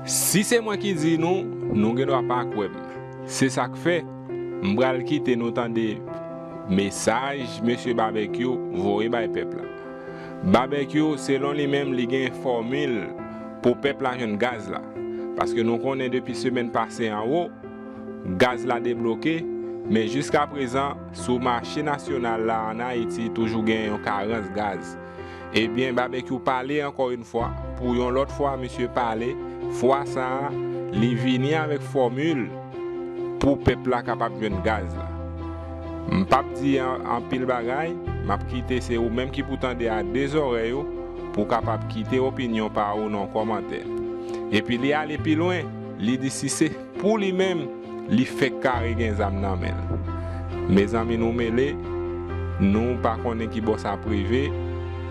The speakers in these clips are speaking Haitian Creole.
Si se mwen ki di nou, nou gen dwa pa kwè m. Se sa k fè, m pral kite nou tande mesaj Mesye Babekyou voye bay pèp la. Babekyou, selon li menm, li gen fòmil pou pèp la jwenn gaz la. Paske nou konnen depi semèn pase anwo, gaz la debloke, men jiskaprezan, sou mache nasyonal la ann Ayiti toujou gen yon karans gaz. Ebyen Babekyou pale ankò yn fwa pou yon lòt fwa misye pale fwa sa li vini avèk fòmil pou pèp la kapab jwenn gaz la m pap di anpil bagay map kite se ou menm ki pou tande a 2 zòrèy ou pou kapab kite opinyon pa ou nan kòmantè epi li ale pi lwen li di si se Pou li menm li fèk kare gen zam nan menl. Mezanmi nou mele, nou pa konnen ki bò sa ap rive,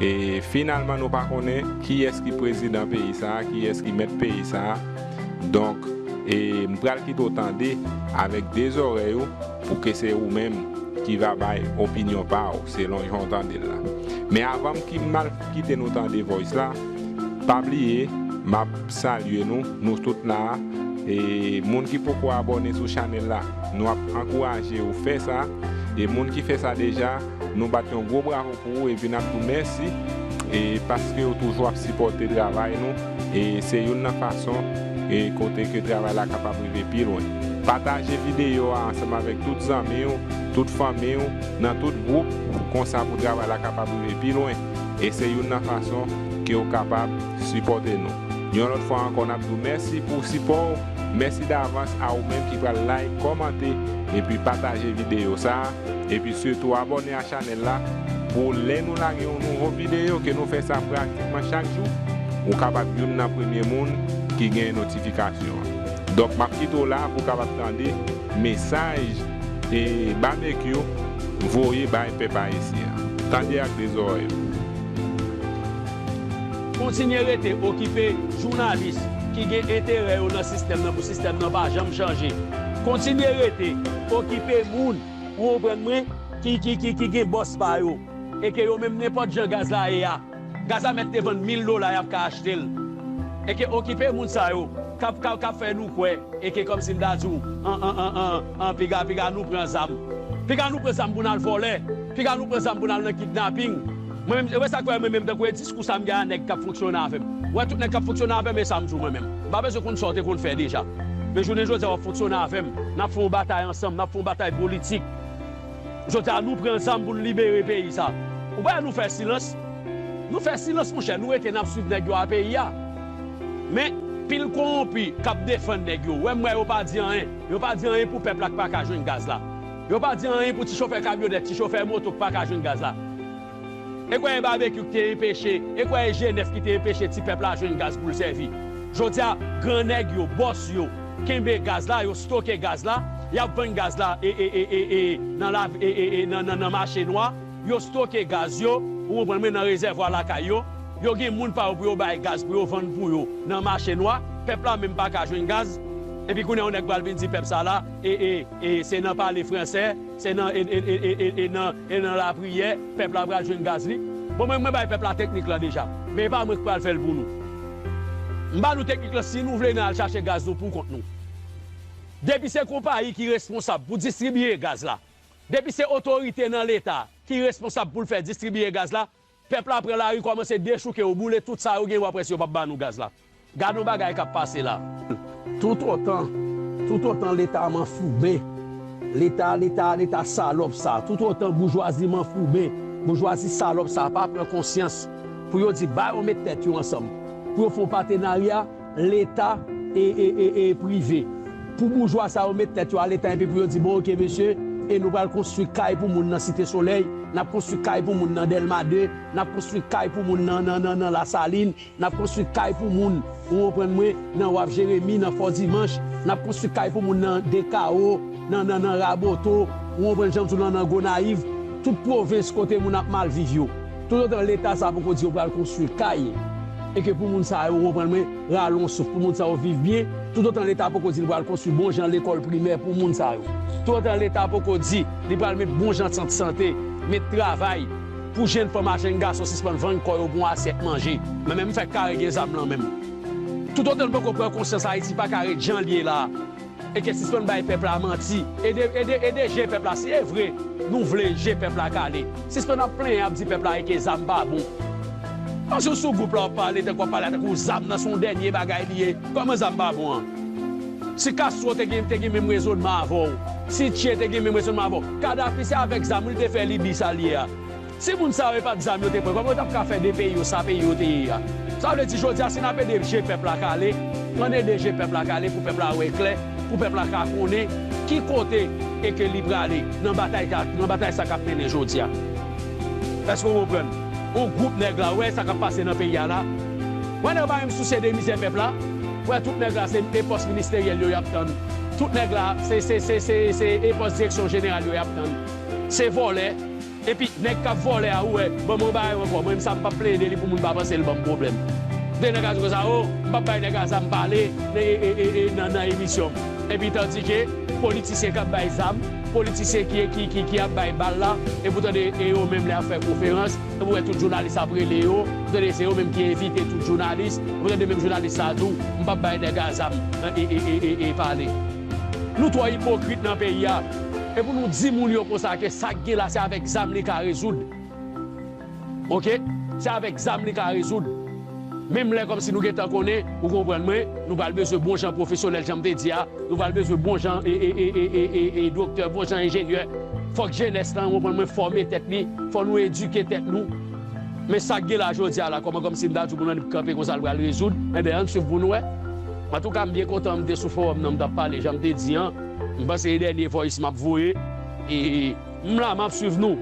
e finalman nou pa konnen kiyès ki prezidan peyi sa, kiyès ki mèt peyi sa, donk e m pral kite w tande avèk 2 zòrèy ou pou ke se ou menm ki va bay opinyon pa w selon jan w tande l la. Men avan m ki m al. Kite nou tande voice la. Pa bliye map salye nou nou tout la e moun ki poko abòne sou chanèl la nou ap ankouraje ou fè sa e moun ki fè sa deja nou bat yon gwo bravo pou ou epi nap di w mèsi e paskew toujou ap sipòte travay nou e se youn nan fason e kote ke travay la kapab rive pi lwen pataje videyo a ansanm avèk tout zanmiw tout fanmiw. nan tout gwoup konsa pou travay la kapab rive pi lwen e se youn nan fason ke ou kapab sipòte nou. Yon lòt fwa ankò nap diw mèsi pou sipò ou, mèsi davans a ou menm ki pral like, kòmante epi pataje videyo sa epi sitou abòne a chanèl la pou lè nou lage yon nouvo videyo ke nou fè sa pratikman chak jou ou kapab youn nan premye moun ki gen notifikasyon an. Donk map kite w la pou kapab tande mesaj. E Babekyou voye bay pèp ayisyen an. Tande ak 2 zòrèy ou. Kontinye rete okipe jounalis ki gen enterè yo nan sistèm nan pou sistèm nan pa janm chanje. Kontinye rete okipe moun, ou konprann mwen, ki gen bòs pa yo e ke yo menm nenpòt jan gaz la ye a, Gaza mèt te vann 1000 dola yap ka achtel eke okipe moun sa yo kap kap kap fè nou kwè eke kòmsi m ta diw an an an an an piga piga nou pran zam piga nou pran zam pou nal vòlè piga nou pran zam pou nal nan kidnaping mwen menm e wè sak fè mwen menm tankou e diskou sa m gen a nèg kap fonksyone avèm wè tout nèg kap fonksyone avèm e sam diw mwen menm m pa bezwen konn sa w te konn fè deja men jounen jodi a wap fonksyone avèm nap fè yon batay ansanm nap fè yon batay politik Jodi a nou pran zam pou nou libere peyi sa. Ou pa wè nou fè silans. Nou fè silans monchè, nou rete nap swiv nèg yo a peyi a. Men pil kowonpi kap defann nèg yo. Wè m wè yo pa di anyen. Yo pa di anyen pou pèp la k paka jwenn gaz la. Yo pa di anyen pou ti chofè kamyonèt, ti chofè moto k paka jwenn gaz la. E kwè e Babekyou ki te enpeche, e kwè e Jenès ki te enpeche ti pèp la jwenn gaz pou l sèvi. Jodi a, gran nèg yo, bòs yo, kenbe gaz la, yo stoke gaz la, y ap vann gaz la e e e e nan la e e e nan nan mache nwa, yo stoke gaz yo, ou konprann mwen, nan rezèvwa lakay yo, yo gen moun pa yo pou yo bay gaz pou yo vann pou yo nan mache nwa, pèp la menm pa ka jwenn gaz. Epi kounye a yon nèg pral vin di pèp sa la e e e se nan pale fransè, Se nan e nan e nan lapriyè pèp la pral jwenn gaz li. Bon mwen mwen bay pèp la teknik lan deja. Men e pa mwen ki pral fèl pou nou. M ba nou teknik lan si nou vle nan al chache gaz nou pou kont nou. Depi se konpayi ki responsab pou distribiye gaz la, depi se otorite nan leta ki responsab poul fè distribiye gaz la, Pèp la pran lari kòmanse dechouke yo boule tout sa yo gen yo apres yo pap ba nou gaz la gadon bagay kap pase la. Tout otan tout otan leta manfouben leta leta leta salòp sa tout otan boujwazi manfouben boujwazi salòp sa pa pran konsyans pou yo di ba yo met tèt yo ansanm pou yo fon patenarya Leta e prive. Pou boujwa sa yo met tèt yo a leta epi pou yo di bon ok mesye e nou pral konstwi kay pou moun nan site solèy, nap konstwi kay pou moun nan dèlma 2, nap konstwi kay pou moun nan nan nan lasalin, nap konstwi kay pou moun ou onprann mwen nan waf jeremi nan fò dimanch, nap konstwi kay pou moun nan dekawo nan nan nan raboto ou onprann janm di w lan nan gonayiv tout pwovens kote moun ap mal viv yo. Toutotan leta sa poko di yo pral konstwi kay e ke pou moun sa yo, ou konprann mwen, rale yon souf, pou moun sa yo viv byen, toutotan leta poko di li pral konstwi bon jan lekòl primè pou moun sa yo, toutotan leta poko di li pral met bon jan sant sante, met travay pou jenn fanm a jenn gason sispann vann kò yo pou yon asyèt manje. Men menm fèk kare gen zam lan menm. Toutotan n poko pran konsyans Ayiti paka ret jan l ye la. Eke sispann bay pèp la manti ede ede ede je pèp la si evre nou vle je pèp la kale sispann ap plenyen ap di pèp la eke zam pa bon pase w sou group la wap pale tankou wap pale a tankou zam nan son dènye bagay li ye kòman zam pa bon an si Castro te gen te gen menm rezonman avèw si Che te gen menm rezonman avèw Kadhafi se avèk zam wi li te fè Libye sal ye a. Si moun sa yo e pat zam yo te pran kòman yo tap ka fè de peyi yo sa peyi yo te ye a sa vle di jodi a si nap ede je pèp la kale ann ede je pèp la kale pou pèp la wè klè pou pèp la ka konnen ki kote e ke li prale nan batay ta nan batay sa kap mennen jodi a èske ou konprann on gwoup nèg la wè sa kap pase nan peyi a la wè nèg yo pa menm sousye de mizè pèp la wè tout nèg la se e pòs ministeryèl yo yap tann tout nèg la se se se se e pòs direksyon jeneral yo yap tann se vòlè. Epi nèg kap vòlè a ou wè bon mwen ba yo ankò mwen menm sa mpap plede li pou moun pa panse li banm pwoblèm de nèg a di konsa oo mpap bay nèg a zam pale nan nan emisyon m epi tandike politisyen kap bay zam politisyen ki ap bay bal la epi ou tande e yo menm lè yap fè konferans epi ou wè tout jounalis ap rele yo ou tande se yo menm ki envite tout jounalis epi ou tande menm jounalis sa tou mpap bay nèg a zam pale. Nou twò ipokrit nan peyi a e pou nou di moun yo konsa ke sa k gen la se avèk zam li ka rezoud ok se avèk zam li ka rezoud menm lè kòmsi nou gentan konnen ou konprann mwen nou pral bezwen bon jan pwofesyonèl jan m te di a nou pral bezwen bon jan ee doktè bon jan enjenyè fòk jenès lan ou konprann mwen fòme tèt li fò nou edike tèt nou men sa k gen la jodi a la kòman kòmsi m ta di w pou nou annik kanpe konsa l pral rezoud enben ann swiv pou nou wè. Antouka m byen kontan m te sou forum nan m tap pale janm te di an m panse se dènye voice map voye e m la map swiv nou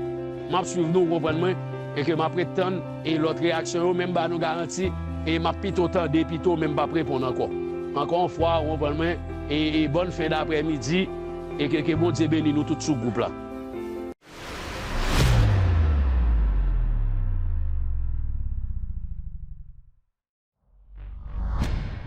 map swiv nou ou konprann mwen e ke map ret tann e lòt reyaksyon yo men m ba nou garanti e map pito tande pito men m pap reponn ankò ankò yon fwa ou konprann mwen e bòn fen daprè midi e ke ke Bondye beni nou tout sou gwoup la.